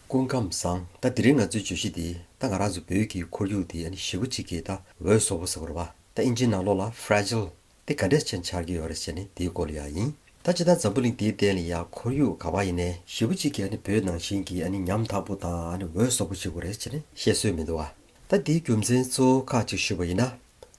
སྐུ་ཁམས་བཟང། ད་འདི་རིང་ང་ཚོའི་བརྗོད་གཞི་འདི་ད་ང་རང་ཚོ་བོད་ཀྱི་ཁོར་ཡུག་འདི་ཨ་ནི་ཞི་བོ་གཅིག་གི་ད་འོད་བཟོ་བོ་ཟེར་བ་རེད་པ། ད་ཨིན་ཇིའི་ནང་ལོགས་ལ Fragile དེ་ག་འདྲས་ཆེ་འཆར་གྱི་ཡོད་རེད་ཟེར་ནས་འདིའི་སྐོར་ལ་ཡག་ཡིན། ད་ཅི་ད་འཛམ་བུ་གླིང་འདིའི་སྟེང་ལ་ཡང་ཁོར་ཡུག་ག་བ་ཡིན་ནའི་ཞི་བོ་གཅིག་གི་ཨ་ནི་བོད་ནང་བཞིན་གྱི་ཨ་ནི་ཉམ་ཐག་པོ་དང་ཨ་ནི་འོད་བཟོ་བོ་ཞིག་གོ་རེད་ཟེར་ནས་བཤད་སྲོལ་མི་འདུག་ཨ། ད་འདིའི་རྒྱུ་མཚན་གཙོ་བོ་ཁག་གཅིག་ཞུས་པ་ཡིན་ན།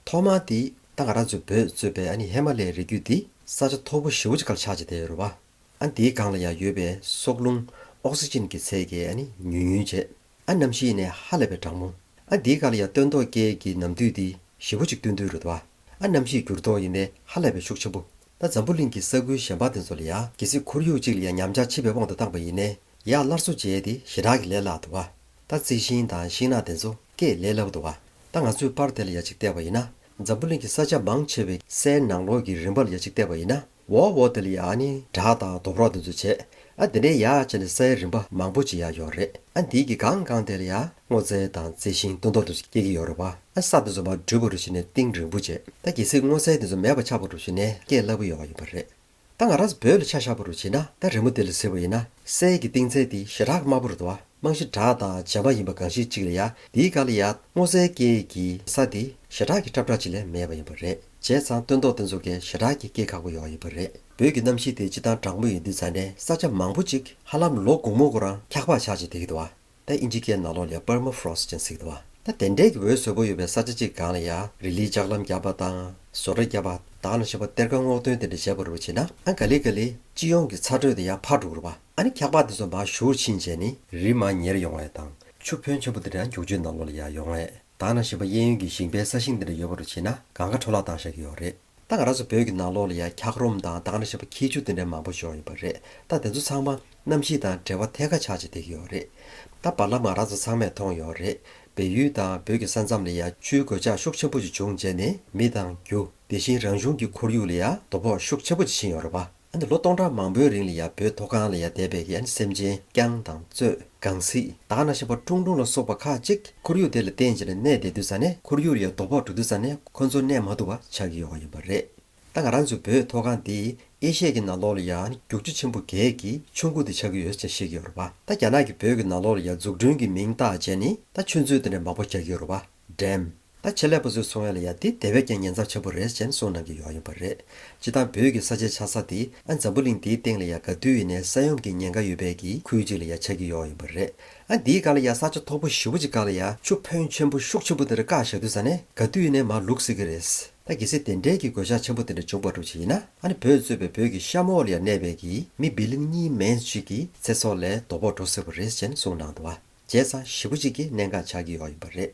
ཐོག་མ་དེ་ད་ང་རང་ཚོའི་བོད་གཙོས་པའི་ཨ་ནི་ཧེ་མ་ལའི་རི་རྒྱུད་འདི་ས་ཆ་མཐོ་བོ་ཞི་བོ་གཅིག་ག་ལ་ཆགས་ཅི་དེ་རུ་བ། ཨ་འདིའི་སྒང་ལ་ཡང་ཡོད་པའི་སྲོག་རླུང། Oxygen། གི་ཚད་ཀྱིས་ཨ་ནི་ཉུལ་ཉུལ་བྱེད། ཨ་རྣམ་ཤེས་ནི་ཧ་ལས་པའི་སྦྲང་མོ། ཨ་འདིའི་སྒང་ལ་ཡང་སྟོན་མདོག་སྐྱེས་ཀྱི་ནམ་དུས་འདི་ཞི་བོ་ཅིག་སྟོན་དུས་རུ་འདུག། ཨ་རྣམ་ཤེས་འགྱུར་ལྡོག་ཡིན་པས་ཧ་ལས་པའི་ཤུགས་ཆེན་པོ། ད་འཛམ་བུ་གླིང་གི་ས་ཁུལ་གཞན་པ་དེ་ཚོ་ལ་ཡང་གལ་སྲིད་ཁོར་ཡུག་ཅིག་ལ་ཡང་ཉམས་ཆག་མཆིས་པའི་དབང་དུ་བཏང་པ་ཡིན་ནས་ཡང་སླར་གསོ་བྱས་ཏེ་ཞེ་དྲག་གི་ལས་སླ་འདུག། ད་རྩི་ཤིང་དང་ཤིང་ནགས་དེ་ཚོ་སྐྱེས་ལས་སླ་པོ་འདུག། ད་ང་ཚོས་པར་དེ་ལ་ཡ་གཅིག་བལྟས་པ་ཡིན་ན་འཛམ་བུ་གླིང་གི་ས་ཆ་མང་ཆེ་བའི་སའི་ནང་ལོགས་ཀྱི་རིམ་པ་ལ་ཡ་གཅིག་བལྟས་པ་ཡིན་ན། འོ་འོ་དེ་ལ་ཡང་ནི་སྦྲག་དང་རྡོ་ཕྲོག་དེ་ཚོ་བྱེད། ཨ་དེ་འདྲའི་ཡག་བྱས་ནས་ས་ཡ་རིམ་པ་མང་པོ་ཅིག་ཡག་ཡོད་རེད་ཨ་འདིའི་གི་གང་གང་དེ་ལ་ཡང་སྔོ་ཚལ་དང་རྩི་ཤིང་ལྟོ་འདོག་དེ་ཚོ་སྐྱེ་གི་ཡོད་རེད་བ་ཨ་ས་དེ་ཚོ་མ་འགྲུལ་བ་རུ་བྱས་ནས་ཏིང་རིང་པོ་བྱེད་ད་གལ་སྲིད་སྔོ་ཚལ་དེ་ཚོ་མེད་པ་ཆགས་པ་རུ་བྱས་ནས་སྐྱེ་སླ་པོ་ཡོང་བ་ཡིན་པ་རེད་ད་ང་ར་བོད་ལ་ཆ་བཞག་པ་རུ་བྱས་ན་ད་རི་མོ་དེ་ལ་ཟེར་བ་ཡིན་ན་སའི་གི་ཏིང་ཚལ་དེ་ཞེ་དྲག་དམར་པོ་རེད་བ་རྨང་གཞི་སྦྲག་དང་བྱེ་མ་ཡིན་པ་གང་ཞིག་ཅིག་ལ་ཡང་འདིའི་ག་ལ་ཡང་སྔོ་ཚལ་སྐྱེ་གི་ས་དེ་ཞེ་དྲག་གི་ཁྲབ་ཁྲག་ཅིག་ལས་མེད་པ་ཡིན་པ་རེད། བྱས་ཙང་སྟོན་ཐོག་དེ་ཚོ་གས་ཞེ་དྲག་གི་སྐད་ཁག་པོ་ཡོང་ཡི་པོ་རེད་བོད་ཀྱི་གནམ་གཤིས་དེ་སྤྱི་དང་དྲང་པོ་ཡིན་དུས་ས་འདྲེན་ས་ཆ་མང་པོ་ཅིག་ཧ་ལམ་ལོ་གུང་མོ་གུ་རང་འཁྱག་པག་ཆག་ཅིག་དེ་གི་དུ་བ་ད་ཨིན་ཇི་སྐད་ནག་ལོ་ལས Permafrost ཅན་ཟིག་དུ་བ་ད་དེ་འདྲས་ཀྱི་འོད་ཟོས་པོ་ཡོད་པའི་ས་ཆ་ཅིག་གང་ལ་ཡ་རི་ལིའི་ལྕགས་ལམ་བརྒྱབ་པ་དང་བཟོ་གྲྭ་བརྒྱབ་པ་དང་ལ་ཞེས་པ་གཏེར་ཁ་སྔོག་འདོན་དེ་འདྲ་བྱས་པ་རུ་བྱས་ན་ཨང་ག་ལི་ག་ལི་སྤྱི་ཡོངས་ཀྱི་ཚ་དྲོད་དེ་ཡང་འཕར་འགྲོ་གི་རུ་བ་ཨ་ནི་འཁྱག་པག་དེ་ཚོ་མ་ཞུགས་ཕྱིན་རྗེས་ནི། རི་མ་ཉེར་ཡོང་བས་དང་ཆུ་ཕོན་ཆེན་པོ་དེ་འདྲ་འགྱུག་རྗེས་ནག་ལོ་ལ་ཡ་ཡོང་བས། དག་ན་ཞིང་པ་གཡས་གཡོན་གྱི་ཞིང་པའི་ས་ཞིང་འདི་འདྲ་ཡོད་པ་རུ་བྱེད་ན་གང་གཱ་འཕྲོ་བརླག་བཏང་བཞག་གི་ཡོད་རེད་ད་ག་ར་སོ་བོད་ཀྱི་ནང་ལོག་ལ་ཡང་འཁྱག་རོམ་དང་དག་ན་ཞིང་པ་ཁྱི་ཆུ་འདི་འདྲ་མང་པོ་ཞོག་ཡོད་པ་རེད་ད་དེ་ཚོ་ཚང་མ་གནམ་གཤིས་དང་འབྲེལ་བ་ཐད་ཀ་ཆགས་ཅིག་འདེགས་ཀྱི་ཡོད་རེད་ད་བར་ལ་མང་ར་ཚོ་ཚང་མས་མཐོང་ཡོད་རེད་བལ་ཡུལ་དང་བོད་ཀྱི་ས་མཚམས་ལ་ཡང་ཆུའི་གོད་ཆག་ཤུགས་ཆེན་པོ་ཅིག་བྱུང་རྗེས་ནས་མི་དང་རྒྱུ་དེ་བཞིན་རང་བྱུང་གྱི་ཁོར་ཡུག་ལ་ཡང་དོ་ཕོག་ཤུགས་ཆེན་པོ་ཅིག་ཕྱིན་ཡོད་རེད་པ། ཨ་ནི་ལོ་སྟོང་ཕྲག་མང་པོའི་རིང་ལ་ཡང་བོད་མཐོ་སྒང་ལ་ཡང་དད་པའི་ཡ་ནི་སེམས་ཅན་རྐྱང་དང་གཙོད་གངས་སྲིད་དག་ན་ཤ་བ་ཀྲུང་ཀྲུང་ལ་སོགས་པ་ཁག་ཅིག་ཁོར་ཡུག་དེ་ལ་རྟེན་བྱས་ནས་གནས་བསྡད་དུས་ས་གནས་ཁོར་ཡུག་ལ་ཡང་དོ་ཕོག་འགྲོ་དུས་ས་གནས་ཁོ་ཚོ་གནས་མ་ཐུབ་པ་ཆགས་ཀྱི་ཡོད་པ་ཡིན་པ་རེད། ད་ང་རང་ཚོའི་བོད་མཐོ་སྒང་འདི་ཨེ་ཤེ་ཀྱི་ནང་ལོགས་ལ་ཡང་ནི་རྒྱུག་ཆུ་ཆེན་པོ་གས་ཀྱི་ཆུ་འགོ་དེ་ཆགས་ཀྱི་ཡོད་ཅེས་བཤད་ཀྱི་ཡོད་རེད་པ་ད་རྒྱ་ནག་གི་བོད་ཀྱི་ནང་ལོགས་ལ་ཡང་འཛུགས་སྐྲུན་གྱི་མིང་བཏགས་བྱས་ནི་ད་ཆུ་མཛོད་དེ་འདྲ་མང་པོ་རྒྱག་གི་ཡོད་རེད་པ། འགྲེམས། ད་ཆེད་ལས་པ་ཚོའི་ཚོང་ཡ་ལ་ཡ་དེ་དེ་བས་ཀྱང་ཉེན་ཚབས་ཆེན་པོ་རེད་ཅེན་གསུངས་གནང་གི་ཡོག་ཡོད་པ་རེད། སྤྱི་བཏང་བོད་ཀྱི་ས་ཆའི་ཆགས་ས་དེ་ཨ་འཛམ་བུ་གླིང་དེའི་སྟེང་ལ་ཡ་ག་དུས་ཡིན་ནས་ས་ཡོམ་གྱི་ཉེན་ཁ་ཡོད་པས་ཀྱི་ཁུལ་གཅིག་ལ་ཡ་ཆགས་ཀྱི་ཡོག་ཡིན་པ་རེད། ཨ་འདིའི་ག་ལ་ཡ་ས་ཆ་མཐོ་པོ་བཞི་བོ་ཅིག་ག་ལ་ཡ་ཆུ་ཕོན་ཆེན་པོ་ཤུགས་ཆེན་པོ་དེ་འདྲ་བཀག་ཞག་དུས་ས་ནས་ག་དུས་ཡིན་ནས་མ་ལུག་སྲིད་ཀྱི་རེད། ད་གི་སྲིད་དེ་འདྲས་ཀྱི་གོད་ཆགས་ཆེན་པོ་དེ་འདྲ་འབྱུང་པ་སྒྲུབ་བྱེད་ཡིན་ན་ཨ་ནི་བོད་གཙོས་པའི་བོད་ཀྱི་ཤ་མོ་འོག་ལ་ཡ་གནས་པས་ཀྱི་མི་བི་ལིང་གཉིས་མན་གཅིག་གི་ཚེ་སྲོག་ལས་དོ་ཕོག་འགྲོ་སྲིད་པ་རེད་ཅེན་གསུངས་གནང་འདུག་ཨ་རྗེས་ཚང་བཞི་བོ་ཅིག་གི་གནད་འགག་ཆགས་ཀྱི་ཡོག་ཡིན་པ་རེད།